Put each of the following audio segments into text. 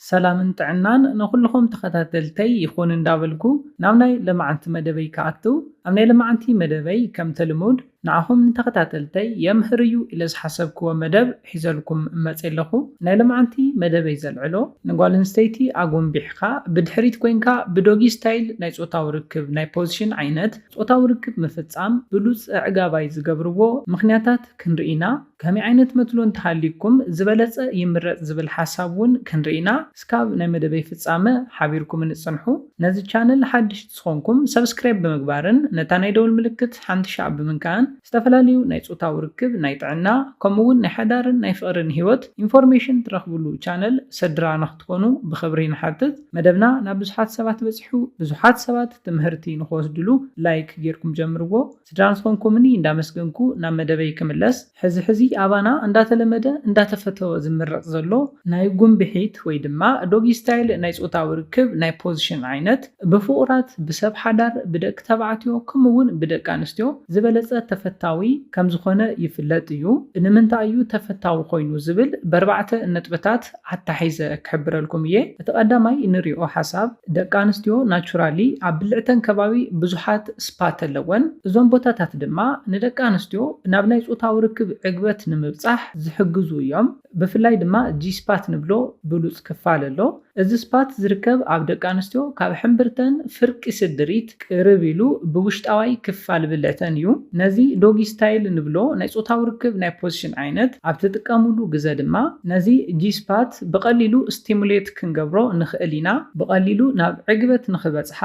ሰላምን ጥዕናን ንኹልኹም ተኸታተልተይ ይኹን እንዳበልኩ ናብ ናይ ለማዓንቲ መደበይ ክኣቱ ኣብ ናይ ለማዓንቲ መደበይ ከምቲ ልሙድ ንዓኹም ንተኸታተልተይ የምህር እዩ ኢለ ዝሓሰብክዎ መደብ ሒዘልኩም መጼ ለኹ ናይ ለማዓንቲ መደበይ ዘልዕሎ ንጓል ኣንስተይቲ ኣጎምቢሕኻ ብድሕሪት ኮይንካ ብዶጊ ስታይል ናይ ጾታዊ ርክብ ናይ ፖዝሽን ዓይነት ጾታዊ ርክብ ምፍጻም ብሉጽ ኣዕጋባይ ዝገብርዎ ምኽንያታት ክንርኢ ኢና ከመይ ዓይነት መትሎ እንተሃልዩኩም ዝበለጸ ይምረጽ ዝብል ሓሳብ ውን ክንርኢ ኢና እስካብ ናይ መደበይ ፍጻመ ሓቢርኩምኒ ጽንሑ ነዚ ቻነል ሓድሽ ዝኮንኩም subscribe ብምግባርን ነታ ናይ ደውል ምልክት ሓንቲ ሻዕ ብምንካእን ዝተፈላለዩ ናይ ጾታዊ ርክብ ናይ ጥዕና ከምኡ ውን ናይ ሓዳርን ናይ ፍቅርን ሂወት ኢንፎርሜሽን ትረክብሉ ቻነል ሰድራ ንክትኮኑ ብክብሪ ንሓትት መደብና ናብ ብዙሓት ሰባት በጺሑ ብዙሓት ሰባት ትምህርቲ ንክወስድሉ like ጌርኩም ጀምርዎ። ስድራ ዝኾንኩምኒ እንዳመስገንኩ ናብ መደበይ ክምለስ ሕዚ ሕዚ ኣባና እንዳተለመደ እንዳተፈተወ ዝምረጽ ዘሎ ናይ ጉምብሒት ወይ ድማ ዶጊ ስታይል ናይ ጾታዊ ርክብ ናይ ፖዝሽን ዓይነት ብፍቑራት ብሰብ ሓዳር ብደቂ ተባዕትዮ ከምኡ ውን ብደቂ ኣንስትዮ ዝበለጸ ተፈታዊ ከምዝኾነ ይፍለጥ እዩ ንምንታይ እዩ ተፈታዊ ኮይኑ ዝብል በርባዕተ ነጥብታት ኣታሒዘ ክሕብረልኩም እየ እቲ ቀዳማይ እንሪኦ ሓሳብ ደቂ ኣንስትዮ ናቹራሊ ኣብ ብልዕተን ከባቢ ብዙሓት ስፓት ኣለወን እዞም ቦታታት ድማ ንደቂ ኣንስትዮ ናብ ናይ ፆታዊ ርክብ ዕግበት ንምብፃሕ ዝሕግዙ እዮም ብፍላይ ድማ ጂስፓት ንብሎ ብሉፅ ክፋል ኣሎ እዚ ስፓት ዝርከብ ኣብ ደቂ ኣንስትዮ ካብ ሕምብርተን ፍርቂ ስድሪት ቅርብ ኢሉ ብውሽጣዋይ ክፋል ብለተን እዩ። ነዚ ዶጊ ስታይል ንብሎ ናይ ጾታዊ ርክብ ናይ ፖዚሽን ዓይነት ኣብ ትጥቀሙሉ ግዘ ድማ ነዚ ጂ-ስፓት ብቐሊሉ ስቲሙሌት ክንገብሮ ንኽእል ኢና። ብቐሊሉ ናብ ዕግበት ንኽበጽሓ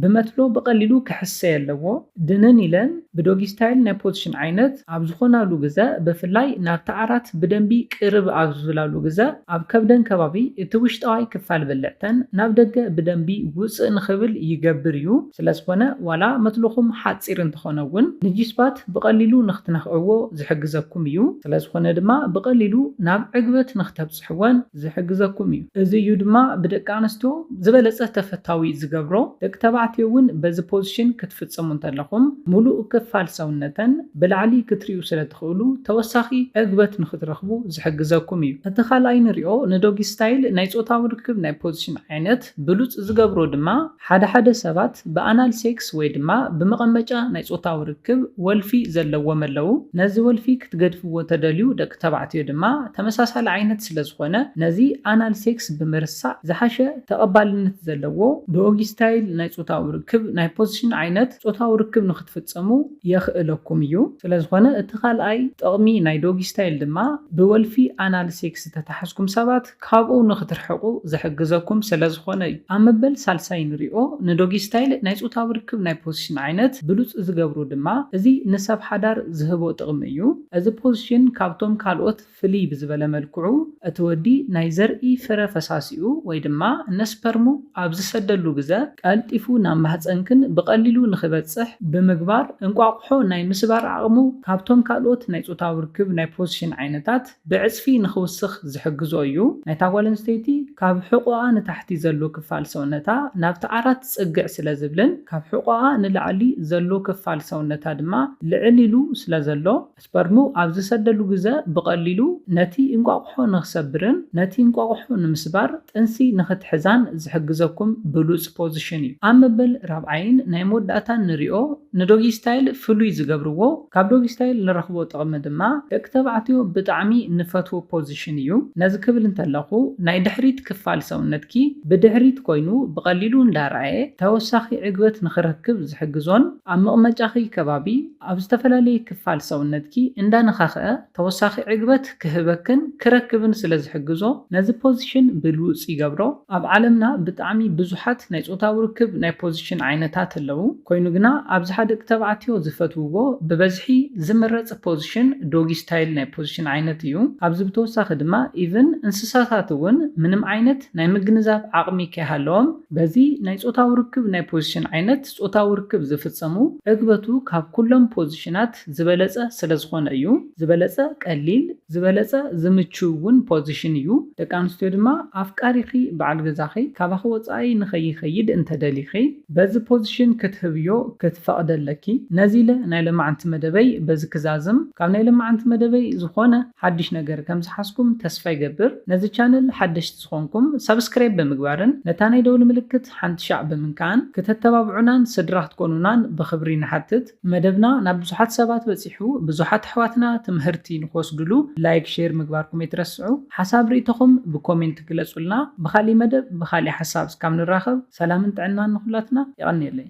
ብመትሎ ብቐሊሉ ክሕሰ ኣለዎ። ድንን ኢለን ብዶጊ ስታይል ናይ ፖዚሽን ዓይነት። ኣብ ዝኾናሉ ግዘ ብፍላይ ናብቲ ዓራት ብደንቢ ቅርብ ኣብ ዝብላሉ ግዘ ኣብ ከብደን ከባቢ እቲ ውሽጣዋይ ክፋል ብልዕተን ናብ ደገ ብደንቢ ውፅእ ንኽብል ይገብር እዩ። ስለዝኾነ ዋላ መትሎኹም ሓፂር እንተኾነ እውን ንጂስፓት ብቐሊሉ ንኽትነኽዕዎ ዝሕግዘኩም እዩ። ስለዝኾነ ድማ ብቐሊሉ ናብ ዕግበት ንኽተብፅሑ ክትሕወን ዝሕግዘኩም እዩ። እዚ እዩ ድማ ብደቂ ኣንስትዮ ዝበለጸ ተፈታዊ ዝገብሮ። ደቂ ተባዕትዮ እውን በዚ ፖዚሽን ክትፍጽሙ እንተለኹም ሙሉእ ክፋል ሰውነተን ብላዕሊ ክትሪኡ ስለትኽእሉ ተወሳኺ ዕግበት ንኽትረኽቡ ዝሕግዘኩም እዩ። እቲ ካልኣይ ንሪኦ ንዶጊ ስታይል ናይ ጾታዊ ርክብ ናይ ፖዚሽን ዓይነት። ብሉጽ ዝገብሮ ድማ ሓደ ሓደ ሰባት ብኣናል ሴክስ ወይ ድማ ብመቐመጫ ናይ ጾታዊ ርክብ ወልፊ ዘለዎም ኣለዉ። ነዚ ወልፊ ክትገድፍዎ ተደልዩ ደቂ ተባዕትዮ ድማ ተመሳሳሊ ዓይነት ስለ ዝኾነ ነዚ ኣናል ሴክስ ብምርሳዕ ዝሓሸ ተቐባልነት ዘለዎ ዶጊ ስታይል ናይ ጾታዊ ርክብ ናይ ፖዚሽን ዓይነት ጾታዊ ርክብ ንኽትፍጸሙ የኽእለኩም እዩ። ስለ ዝኾነ እቲ ካልኣይ ጥቕሚ ናይ ዶጊ ስታይል ድማ ብወልፊ ኣናል ሴክስ ዝተታሕዝኩም ሰባት፣ ካብኡ ንኽትርሕቁ ዝሕግዘኩም ስለዝኾነ እዩ። ኣብ መበል ሳልሳይ ንሪኦ ንዶጊ ስታይል ናይ ፆታዊ ርክብ ናይ ፖዚሽን ዓይነት ብሉፅ ዝገብሩ ድማ እዚ ንሰብ ሓዳር ዝህቦ ጥቕሚ እዩ። እዚ ፖዚሽን ካብቶም ካልኦት ፍልይ ብዝበለ መልክዑ እቲ ወዲ ናይ ዘርኢ ፍረ ፈሳሲኡ ወይ ድማ ነስፐርሙ ኣብ ዝሰደሉ ግዘ ቀልጢፉ ናብ ማህፀንክን ብቐሊሉ ንኽበፅሕ ብምግባር እንቋቑሖ ናይ ምስባር ዓቕሙ ካብቶም ካልኦት ናይ ፆታዊ ርክብ ናይ ፖዚሽን ዓይነታት ብዕጽፊ ንኽውስኽ ዝሕግዞ እዩ። ናይታ ጓል ኣንስተይቲ ካብ ሕቖኣ ንታሕቲ ዘሎ ክፋል ሰውነታ ናብቲ ዓራት ጽግዕ ስለ ዝብልን ካብ ሕቖኣ ንላዕሊ ዘሎ ክፋል ሰውነታ ድማ ልዕል ኢሉ ስለ ዘሎ ስፐርሙ ኣብ ዝሰደሉ ግዘ ብቐሊሉ ነቲ እንቋቑሖ ንኽሰብርን ነቲ እንቋቑሖ ንምስባር ጥንሲ ንኽትሕዛን ዝሕግዘኩም ብሉጽ ፖዝሽን እዩ። ኣብ መበል ራብዓይን ናይ መወዳእታን ንሪኦ። ንዶጊ ስታይል ፍሉይ ዝገብርዎ ካብ ዶጊ ስታይል ንረኽቦ ጥቕሚ ድማ ደቂ ተባዕትዮ ብጣዕሚ ንፈትዎ ፖዚሽን እዩ። ነዚ ክብል እንተለኹ ናይ ድሕሪት ክፋል ሰውነትኪ ብድሕሪት ኮይኑ ብቐሊሉ እንዳርኣየ ተወሳኺ ዕግበት ንኽረክብ ዝሕግዞን ኣብ መቕመጫኺ ከባቢ ኣብ ዝተፈላለየ ክፋል ሰውነትኪ እንዳነኻኽኣ ተወሳኺ ዕግበት ክህበክን ክረክብን ስለ ዝሕግዞ ነዚ ፖዚሽን ብሉጽ ይገብሮ። ኣብ ዓለምና ብጣዕሚ ብዙሓት ናይ ጾታዊ ርክብ ናይ ፖዚሽን ዓይነታት ኣለዉ። ኮይኑ ግና ኣብዝሓ ደቂ ተባዕትዮ ዝፈትውዎ ብበዝሒ ዝምረጽ ፖዚሽን ዶጊ ስታይል ናይ ፖዚሽን ዓይነት እዩ። ካብዚ ብተወሳኺ ድማ ኢቭን እንስሳታት እውን ምንም ዓይነት ናይ ምግንዛብ ዓቕሚ ከይሃለዎም፣ በዚ ናይ ጾታዊ ርክብ ናይ ፖዚሽን ዓይነት ጾታዊ ርክብ ዝፍጸሙ፣ ዕግበቱ ካብ ኩሎም ፖዚሽናት፣ ዝበለጸ ስለ ዝኾነ እዩ። ዝበለጸ ቀሊል፣ ዝበለጸ ዝምችው ውን ፖዚሽን እዩ። ደቂ ኣንስትዮ ድማ ኣፍቃሪኺ በዓል ገዛኺ ካባኺ ወጻኢ ንኸይኸይድ እንተ ደሊኺ በዚ ፖዚሽን ክትህብዮ ክትፈቕዲ ኣለኪ። ነዚ ኢለ ናይ ለማዓንቲ መደበይ በዚ ክዛዝም። ካብ ናይ ለማዓንቲ መደበይ ዝኾነ ሓድሽ ነገር ከም ዝሓዝኩም ተስፋ ይገብር። ነዚ ቻነል ሓደሽቲ ዝኾንኩም ሳብስክራይብ ብምግባርን ነታ ናይ ደውሊ ምልክት ሓንቲ ሻዕ ብምንካእን ክተተባብዑናን ስድራ ክትኮኑናን ብኽብሪ ንሓትት። መደብና ናብ ብዙሓት ሰባት በጺሑ ብዙሓት ኣሕዋትና ትምሀርቲ ንክወስድሉ ላይክ ሼር ምግባርኩም ኣይትረስዑ ሓሳብ ሪኢቶኹም ብኮሜንት ግለጹልና ብኻሊእ መደብ ብኻሊእ ሓሳብ እስካብ ንራኸብ ሰላምን ጥዕናን ንኹላትና የቐንየለይ።